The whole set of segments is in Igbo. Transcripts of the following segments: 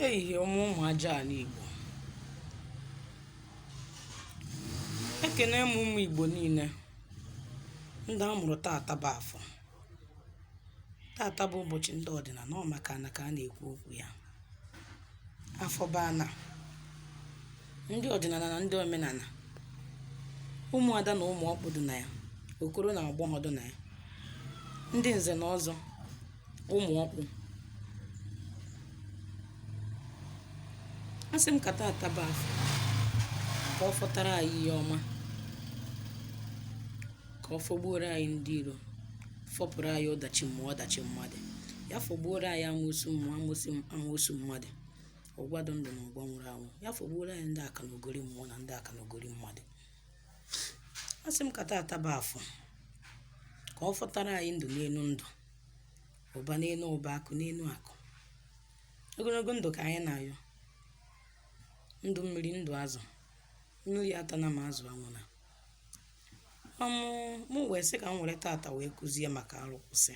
ehihie ọma ụmụ aja ala igbo ekene m ụmụ igbo niile ndị a mụrụ tata bụ afọ tata bụ ụbọchị ndị ọdịnala ọ maka na ka a na-ekwu okwu ya Afọ bụ ana, ndị ọdịnala na ndị omenala, ụmụada na ụmụ ọkpụ dị na ya, okoro na agbọghọ dị na ya, ndị nze na ọzọ, ụmụ ọkpụ. Asị m ka tata bụ afọ ka ọ fọtara anyị ihe ọma. ka ọ fọgbuoro anyị ndị iro fọpụrụ anyị ọdachi mmụọ ọdachi mmadụ ya fọgbuoro anyị amoosu mmụọ amoosu amoosu mmadụ ọgwa dị ndụ na ọgwa nwụrụ anwụ ya fọgbuoro anyị ndị aka na ogori mmụọ na ndị aka na ogori mmadụ a sị m ka taata bụ afọ ka ọ fọtara anyị ndụ n'elu ndụ ụba n'elu ụba akụ n'elu akụ ogologo ndụ ka anyị na-ayọ ndụ mmiri ndụ azụ mmiri atana ma azụ anwụna mụ wee sị ka m were tata wee kụzie maka arụkwụsị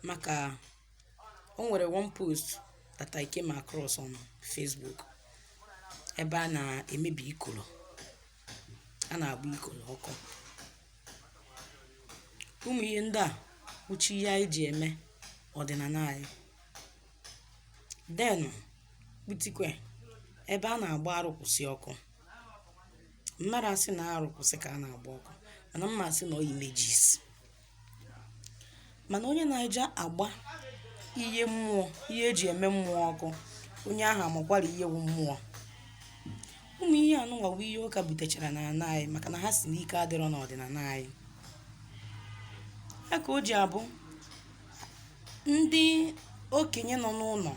maka o nwere one post that I came across on Facebook ebe a na-emebi ikoro a na-agba ikoro ọkụ ụmụ ihe ndị a wụcha ihe anyị ji eme ọdịnala anyị then kputikwe ebe a na-agba arụkwụsị ọkụ mmadụ asị na arụ kwụsị ka a na-agba ọkụ mana m ma asị na ọ images mana onye na-eje agba ihe mmụọ ihe e ji eme mmụọ ọkụ onye ahụ amakwara ihe wụ mmụọ ụmụ ihe anụnwa bụ ihe ụka butechara na ana anyị maka na ha sị na ike adịrọ n'ọdịnala anyị ya ka o ji abụ ndị okenye nọ n'ụlọ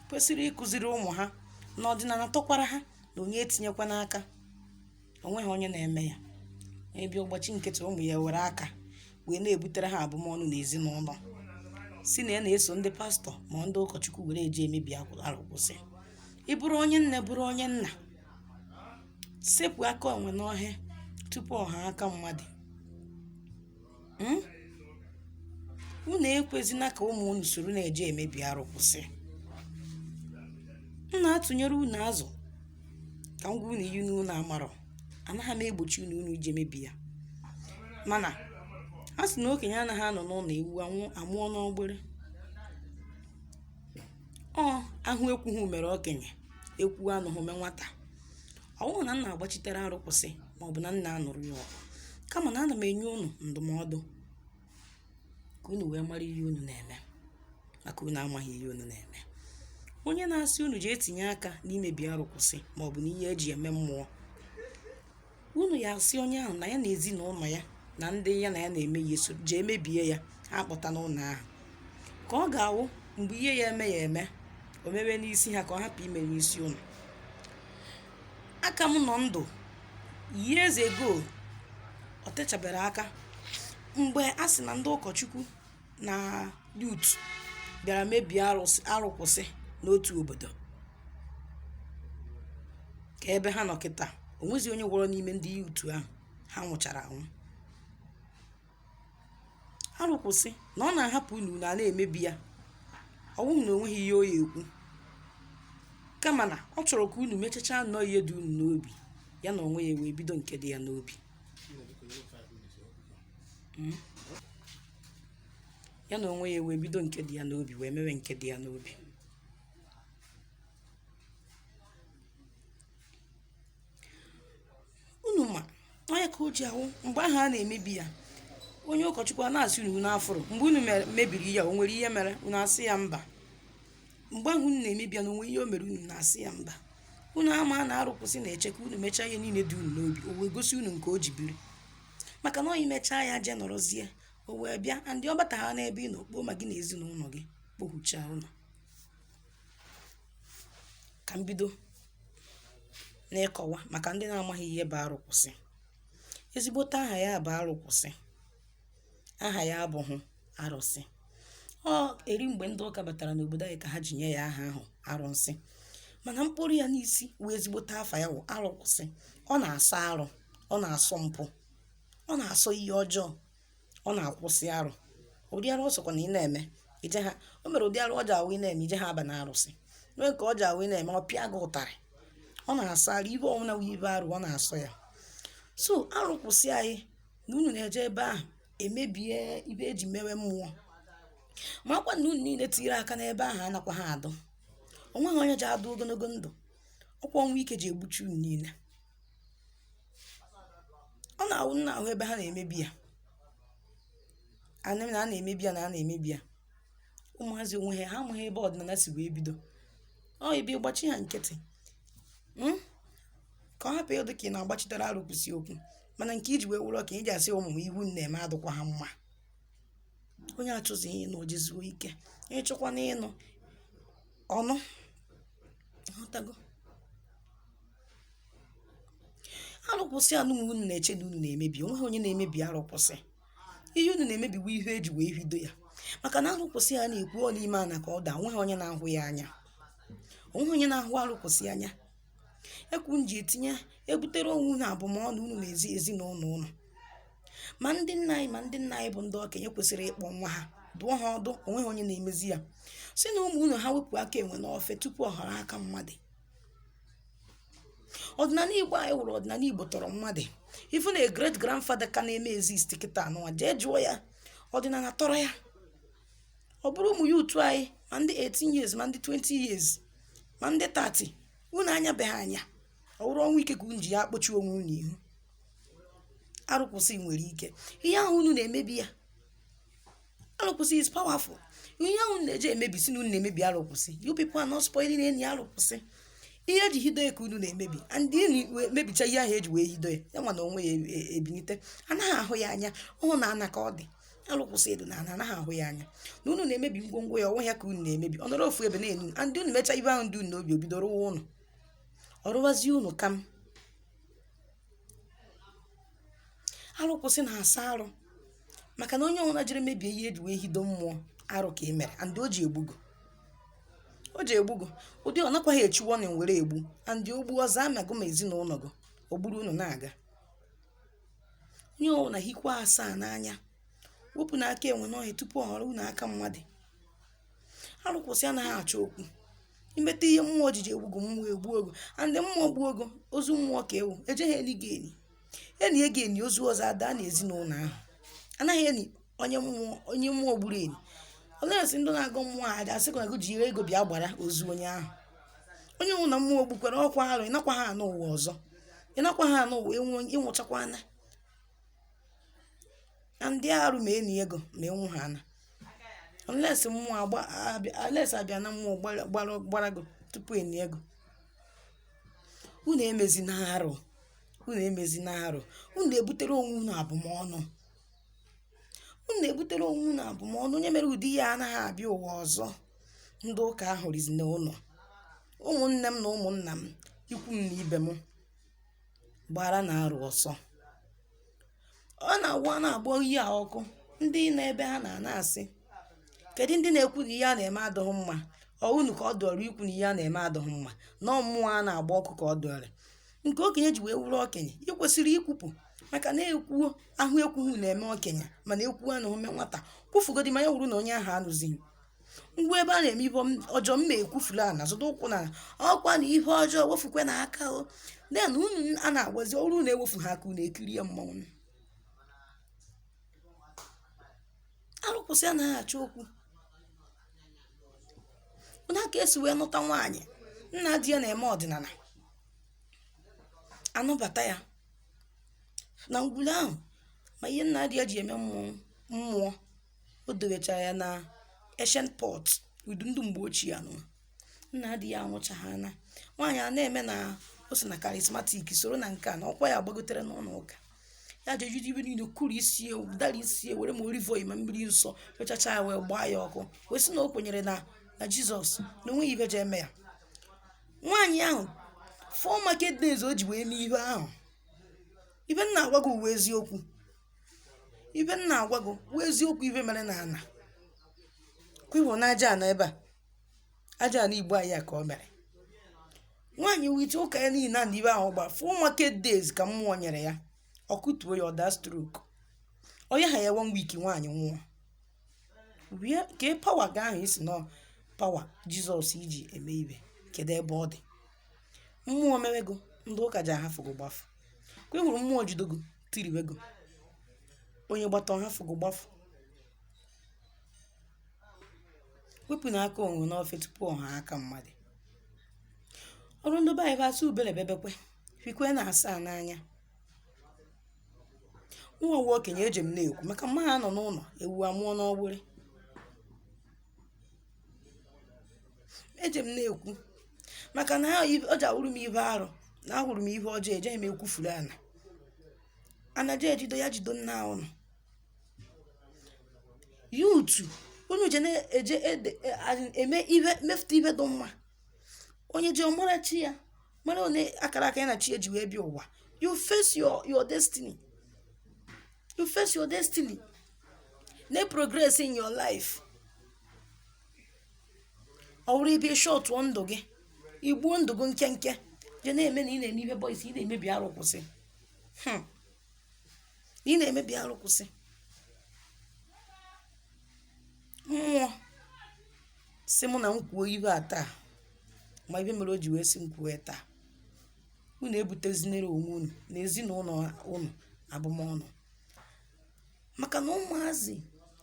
kwesịrị ịkụziri ụmụ ha na ọdịnala tọkwara ha na onye etinyekwana aka o nweghị onye na-eme ya ebi ọ gbachi nkịtị ụmụ ya were aka wee na-ebutere ha abụmọnụ n'ezinụlọ sị na ya na-eso ndị pastor ma ndị ụkọchukwu were eje emebi akwụ- arụ kwụsị ị bụrụ onye nne bụrụ onye nna sepụ aka enwe n'ohe tupu ọ ghọọ aka mmadụ hmm? unu ekwezina ka ụmụ unu soro na-eje emebi arụ kwụsị m na-atụnyere unu azụ ka m gwa unu ihe unu amarọ anaghị m egbochi unu unu ije mebi ya mana a sị na okenye anaghị anọ n'ụlọ ewu anwụ amụọ n'ọgbịrị ọ ahụ ekwughị mere okenye ekwu anụghị mee nwata ọ bụghị na m na-agbachitere arụ kwụsị ma ọ bụ na m na-anụrụ ya ọgụ kama na ana m enye unu ndụmọdụ ka unu wee mara ihe unu na-eme maka unu amaghị ihe unu na-eme onye na-asị unu jee tinye aka n'imebi arụ kwụsị ma ọ bụ n'ihe e ji eme mmụọ unu ya asị onye ahụ na ya na ezinụlọ ya na ndị ya na ya na-eme ya eso jee mebie ya ha kpọta n'ụlọ ahụ ka ọ ga-awụ mgbe ihe ya eme ya eme o mewe n'isi ha ka ọ hapụ ime n'isi unu aka m nọ ndụ years ago o techabere aka mgbe a sị na ndị ụkọchukwu na youth bịara mebie arụsị arụkwụsị n'otu obodo ka ebe ha nọ kịta o nwezi onye fọrọ n'ime ndị youth ahụ ha nwụchara anwụ arụ kwụsị na ọ na-ahapụ unu ana-emebi ya ọ wụghị na o nweghị ihe o ya ekwu kama na ọ chọrọ ka unu mechacha nnọọ ihe dị unu n'obi ya na onwe ya wee bido nke dị ya n'obi hmm? ya na onwe ya wee bido nke dị ya n'obi wee mewe nke dị ya n'obi unu ma ọ ya ka o ji awụ mgbe ahụ a na-emebi ya onye ụkọchukwu a na-asị unu unu afụrụ mgbe unu mere- mebiri ya o nwere ihe mere unu asị ya mba mgbe ahụ unu na-emebi ya na o nwere ihe o mere unu na-asị ya mba unu ama na arụ kwụsị na-eche ka unu mechaa ihe niile dị unu n'obi o wee gosi unu nke o ji biri maka na ọ i mechaa ya je nọrọzie o wee bịa and ọ bata ha n'ebe ị nọ kpoo ma gị na ezinụlọ gị kpohuchaa unu ka m bido n'ịkọwa maka ndị na-amaghị ihe bụ arụ kwụsị ezigbote aha ya bụ arụ kwụsị aha ya abụghị arụsị ọ eri mgbe ndị ụka batara n'obodo anyị ka ha ji nye ya aha ahụ arụsị mana mkpọru ya n'isi wee ezigbote afa ya wụ arụ kwụsị ọ na-asọ arụ ọ na-asọ mpụ ọ na-asọ ihe ọjọọ ọ na-akwụsị arụ ụdị arụ ọ sọkwa na ị na-eme ije ha o mere ụdị arụ ọ ji awụ ị na-eme ije ha aba na arụsị nwee nke ọ ji awụ ị na-eme ọ pịa gị ụtarị ọ na-asọ arụ ihe ọwụna wụ ihe arụ ọ na-asọ ya so arụ kwụsị anyị na unu na-eje ebe ahụ emebie ibe e ji mewe mmụọ makwa na unu niile tinyere aka n'ebe ahụ anakwa ha adụ o nweghị onye ji adụ ogologo ndụ ọ kwa ọnwụ ike ji egbuchi unu niile ọ na-awụ m na-ahụ ebe ha na-emebi ya anị m na a na-emebi ya na a na-emebi ya ụmụazị onwe ha ha amaghị ebe ọdịnala si wee bido ọ ebe ịgbachi ha nkịtị mm? ka ọ hapụ ịdị ka ị na-agbachitere arụ kwụsị okwu mana nke iji wee wụrụ ka ị ji asị ụmụ m ihe unu na-eme adịkwa ha mma onye achụzi ihe na ojizuo ike ịchụkwa n'ịnụ unu aghọtago arụkwụsị a nụnwa unu na-eche na unu na-emebi onweghị onye na-emebi arụkwụsị ihe unu na-emebi bụ ihe eji wee bido ya maka na arụkwụsị a na-ekwu ọ n'ime ana ka ọ dị onweghị onye na-ahụ ya anya onweghị onye na-ahụ arụkwụsị anya ekwu m ji etinye ebutere onwe unu abụmọnụ unu na ezi ezinụlọ unu ma ndị nna anyị ma ndị nna anyị bụ ndị okenye kwesịrị ịkpọ nwa ha dụọ ha ọdụ onweghị onye na-emezi ya sị na ụmụ unu ha wepụ aka enwe n'ofe tupu ọ ghọrọ aka mmadụ ọdịnala igbo anyị wụrụ ọdịnala igbo tọrọ mmadụ ị fụ na great grandfather ka na-eme exist kịta anụwa jee jụọ ya ọdịnala tọrọ ya ọ bụrụ ụmụ youth anyị ma ndị 18 years ma ndị 20 years ma ndị 30 unu anyabeghị anya ọ bụrụ ọnwụ ike ka unu ji ya akpọchi onwe unu ihu arụkwụsị nwere ike ihe ahụ unu na-emebi ya arụkwụsị is powerful ihe ahụ unu ji emebi sị na unu na-emebi arụkwụsị you people are not spoiling any arụkwụsị ihe eji hido ya ka unu na-emebi and unu wee mebicha ihe ahụ eji wee hido ya ya nwa na onwe ya e- e- ebinite anaghị ahụ ya anya ọ wụ na ana ka ọ dị alụkwụsị edo na ana anaghị ahụ ya anya na unu na-emebi ngwongwo ya ọ wụ ya ka unu na-emebi ọ nọrọ ofu ebe na-ene unu and unu mecha ihe ahụ dị unu n'obi o bido rụwa unu ọ rụwazie unu kam arụkwụsị na-asọ arụ maka na onye ọbụla jiri mebie ihe eji wee hido mmụọ arụ ka ị mere and o ji egbu gị o ji egbu gị ụdị ọ nakwaghị echi warning were egbu and o gbuo ọzọ ma gị ma ezinụlọ gị o gburu unu na-aga onye ọbụla hikwa asaa n'anya wepụnụ aka enwe n'ofe tupu ọ ghọrọ unu aka mmadụ arụkwụsị anaghị achọ okwu i meta ihe mmụọ ojiji egbu gị mmụọ egbuo gị and mmụọ gbuo gị ozu mmụọ ka ị wụ e jeghị eni gị eni e nie gị eni ozu ọzọ ada na ezinụlọ ahụ anaghị eni onye mmụọ onye mmụọ gburu eni unless ndị na-agọ mmụọ aja asị ka ji ego bịa gbara ozu onye ahụ onye ọwụna mmụọ gbukwara ọkwa arụ ị nakwaghị anọ ụwa ọzọ ị nakwaghị anọ ụwa enwe ịnwụchakwa na ndị arụ ma e nie gị ma enwu ha na unless mmụọ agba abịa- unless abịa na mmụọ gbara- gbara gbara gị tupu e nie gị unu emezina arụ unu emezina arụ unu na-ebutere onwe unu abụmọnụ unu na-ebutere onwe unu abụmọnụ onye mere ụdị ya anaghị abịa ụwa ọzọ ndị ụka ahụ rizi na ụlọ ụmụnne m na ụmụnna m ikwu m na ibe m gbaranụ arụ ọsọ. Ọ na-awụ a na-agba ihe a ọkụ, ndị nọ ebe ahụ a na-asị, kedụ ndị na-ekwu na ihe a na-eme adịghị mma? Ọ unu ka ọ dịịrị ikwu na ihe a na-eme adịghị mma? Na ọ mmụọ a na-agba ọkụ ka ọ dịịrị? Nke okenye ji wee wụrụ okenye, i kwesịrị ikwupụ maka na e kwuo, a hụ ekwughị na-eme okenye mana e kwuo anụghị o mee nwata. Kwufugodị ma ya wụrụ na onye ahụ anụghị. ngwa ebe a na-eme ihe ọjọọ m na-ekwufula na zụta ụkwụ na ọkwa na ihe ọjọọ wefukwe na aka o den unu a na-agwazi ọrụ na-ewefu ha aka unu ekiri ya mmanwụ arụsị anaghị achọ okwu onye a ka e si wee nụta nwaanyị nna di ya na-eme ọdịnala a nụbata ya na ngwulu ahụ ma ihe nna di ya ji eme mmụọ o dowechara ya na ancient pot ụdị ndị mgbe ochie anụ nna di ya anwụchaghị ana nwaanyị a na-eme na o so na charismatic soro na nke a na ọkwa ya gbagotere n'ụlọ ụka ya ji ejide ihe niile kụrụ isi ewu dara isi ewu were ma olive oil ma mmiri nsọ fechacha ya wee gbaa ya ọkụ wee sị na o kwenyere na na jizọs na o nweghị ihe ji eme ya nwaanyị ahụ four market days o ji wee mee ihe ahụ ihe m na-agwa gị wụ eziokwu ihe m na-agwa gị wụ eziokwu ihe mere na ana kwibụ na aja ana ebe a aja ana igbo anyị a ka o mere nwaanyị wite ụka ya niile na ihe ahụ gba four market days ka mmụọ nyere ya ọ kụtuo ya ọ daa stroke o nyeha ya one week nwaanyị nwụọ wee kee power gị ahụ ị sị na ọ power jizọs i ji eme ihe kedu ebe ọ dị mmụọ mewego ndị ụka gị ahafụgo gbafụ ka ị hụrụ mmụọ jidogo tiriwego onye gbata ọ hafụgo gbafụ wepụ na aka enwe n'ofe tupu ọ ghọọ aka mmadụ ọrụ ndị be anyị bụ asụ ubele bebekwe fikwe na asaa n'anya nwa nwa okenye eje m na-ekwu maka m ma anọ n'ụlọ ewu amụọ n'ọgbụrị eje m na-ekwu maka na ha o je awụrụ m ihe arụ na ahụrụ m ihe ọjọọ ejeghị m ekwufuru ana anaje ejido ya jido nna unu ya otu unu je na-eje ede- e- a- eme ihe mefụta ihe dị mma onye ji ọ mara chi ya mara one akara aka ya na chi ya ji wee bịa ụwa you face your, your destiny you face your destiny na progress in your life ọ wụrụ ibi shọtụọ ndụ gị i gbuo ndụ gị nkenke je na-eme na ị na-eme ihe boys ị na-emebi arụ kwụsị Hmm. ị na-emebi arụ kwụsị mmụọ si mụ na m kwuo ihe a taa ma ihe mere o ji wee si m kwuo ya taa unu ebutezinere onwe unu na ezinụlọ unu abụmọnụ maka na ụmụazị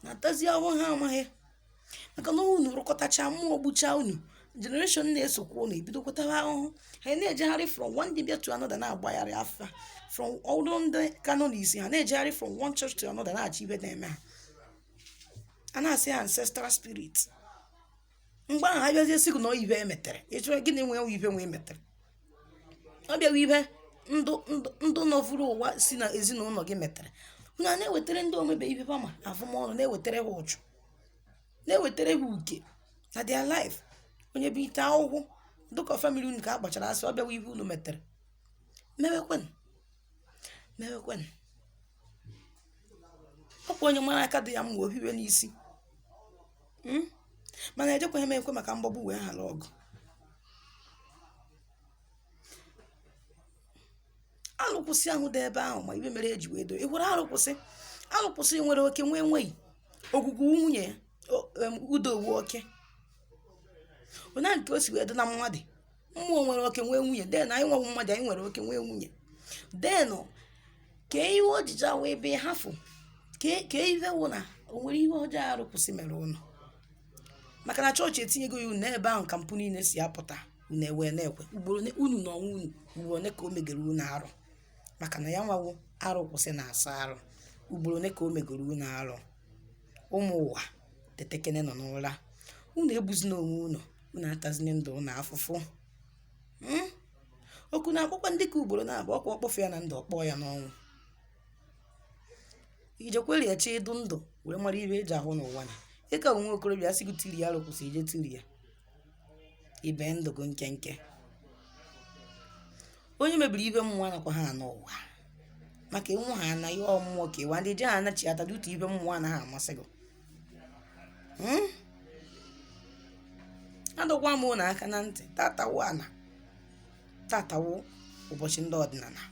na-atazi ahụhụ ha amaghị maka na unu rụkọtacha mmụọ gbucha unu generation na-esokwa unu ebidokwa tawa ahụhụ ha na-ejegharị from one dibia to another na-agbagharị afa from ọrụ ndị kano na isi ha na-ejegharị from one church to another na-achọ ibe na-eme ha a na-asị ha ancestral spirit mgbe ahụ a bịazie sị gị na o nwe ibe e metere ịchọrọ gịnị nwee ibe e wee metere ọ bụ ya wụ ibe ndị ndị ndị nọvuru ụwa si na ezinụlọ gị metere unu a na-ewetara ndị omebe ibe pama avụmọnụ na-ewetara ha ụchụ na-ewetara ha uke na their life onye bụ ite akwụkwọ dịka family unu ka a gbachara asị ọ bụ ya wụ ihe unu metere mewekwanụ mewekwanụ ọ kwa onye mara aka dị ya mma o hiwe n'isi Mm? mana ejikwaghị m ekwe maka mgbagbu wee ghara ọgụ alụkwụsị ahụ dị ebe ahụ ma ibe mere e ji wee doo ihu alụkwụsị alụkwụsị nwere oke nwee nwunye ogwugwu nwunye ya, o- em, udo wụ oke onye ahụ nke o si wee dị na mmadụ mmụọ nwere oke nwee nwunye then anyị nwa bụ mmadụ anyị nwere oke nwee nwunye then kee ihe ojiji awụ ebe hafụ kee ihe wụ na o nwere ihe ọjọọ arụkwụsị mere unu maka na chọọchị etinyego ya unu ebe ahụ ka mpụ niile si apụta unu ewee na-ekwe ugboro unu na ọnwa unu ugboro ole ka o megere unu arụ maka na ya nwa wụ arụkwụsị na-asọ arụ ugboro ole ka o megoro unu arụ ụmụ ụwa tetekenenụ n'ụra unu egbuzina onwe unu unu atazina ndụ unu afụfụ Hmm? oku na-akpọkwa ndị ka ugboro naabọ ọ kwa ọ kpọghị ya na ndụ ọ kpọọ ya n'ọnwụ i jekwere ya chi ị dị ndụ wee mara ibe e ji ahụ n'ụwa na ị ka wụ nwa okorobịa a sị gị tiri ya alụkwụsị i jee tiri ya i bee ndụ gị nkenke onye mebiri ibe mmụọ nakwa ha n'ụwa maka ịnwụ ha anaghị ọmụọ ka ịwa ndị je ha anachi ata dutu ibe mmụọ anaghị amasị gị hmm? adọkwa m unu aka na ntị tata wụ ana tata wụ ụbọchị ndị ọdịnala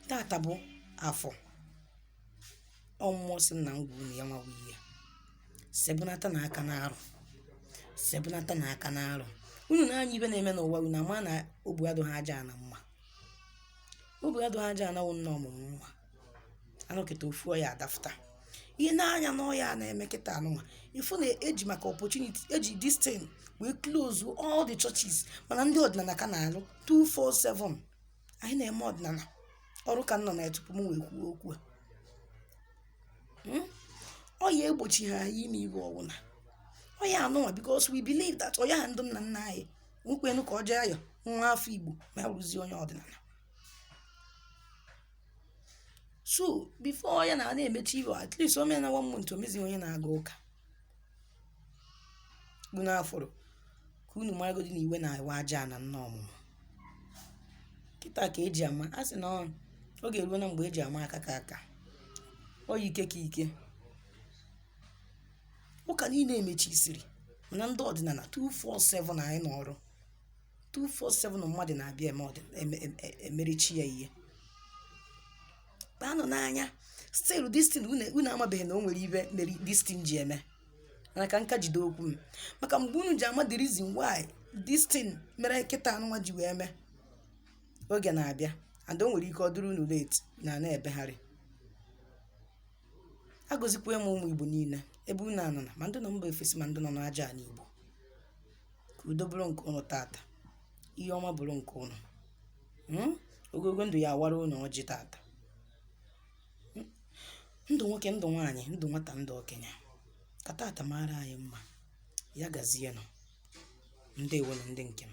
tata bụ afọ mmụọ sị na m gwa unu ya nwawa ihe sebunata na aka na arụ sebunata na aka na arụ unu na-anya ibe na-eme n'ụwa unu ama na ọ bụ adụ ha aja na mma ọ bụ adụ ha aja anawụ nna ọmụmụ nwa a nọkata ofu ọya adafụta ihe na-anya na ọya a na-eme kịta anụnwa ị fụ na e ji maka opportunity e ji this thing wee close all the churches mana ndị ọdịnala ka na-alụ 247 anyị na-eme ọdịnala ọrụ ka m nọ na ya tupu m wee kwuo okwu a Hmm? ọya egbochighị anyị ime ibe ọ wụna ọya anụnwa because we believe that ọya ha ndị nna nna anyị nwekwenu ka ọ jee aya nwa afọ igbo ma ya bụrụzie onye ọdịnala so before ya na na-emechi iwe at least o mee na one month o mezie onye na-aga ụka bụ n'afọrọ ka unu maragodi na iwe na-ewe ajana nna ọmụmụ kịta ka eji ama a sị na ọ ọ ga-eruo na mgbe eji ama aka ka aka onye ike ka ike ụka niile emechisiri mana ndị ọdịnala 247 anyị nọ n'ọrụ 247 mmadụ na-abịa eme ọdị eme- em- em- emerichi ya ihe kpaanụ n'anya still distin unu amabeghị na o nwere ihe mere distin ji eme mana ka nka jide okwu m maka mgbe unu ji ama the reason why distin mere kịta anụnwa ji wee mee oge na-abịa and o nwere ike ọ dịrị unu late na na-ebegharị agọzikwa m ụmụ igbo niile ebe unu anọ na ma ndị nọ mba ofesi ma ndị nọ n'aja ala igbo ka udo bụrụ nke ụnụ tata ihe ọma bụrụ nke ụnụ Mm? ogologo ndụ ya awara ụnụ ọjị tata Mm? ndụ nwoke ndụ nwaanyị ndụ nwata ndụ okenye ka tata maara anyị mma ya gazienụ ndewonụ ndị nke m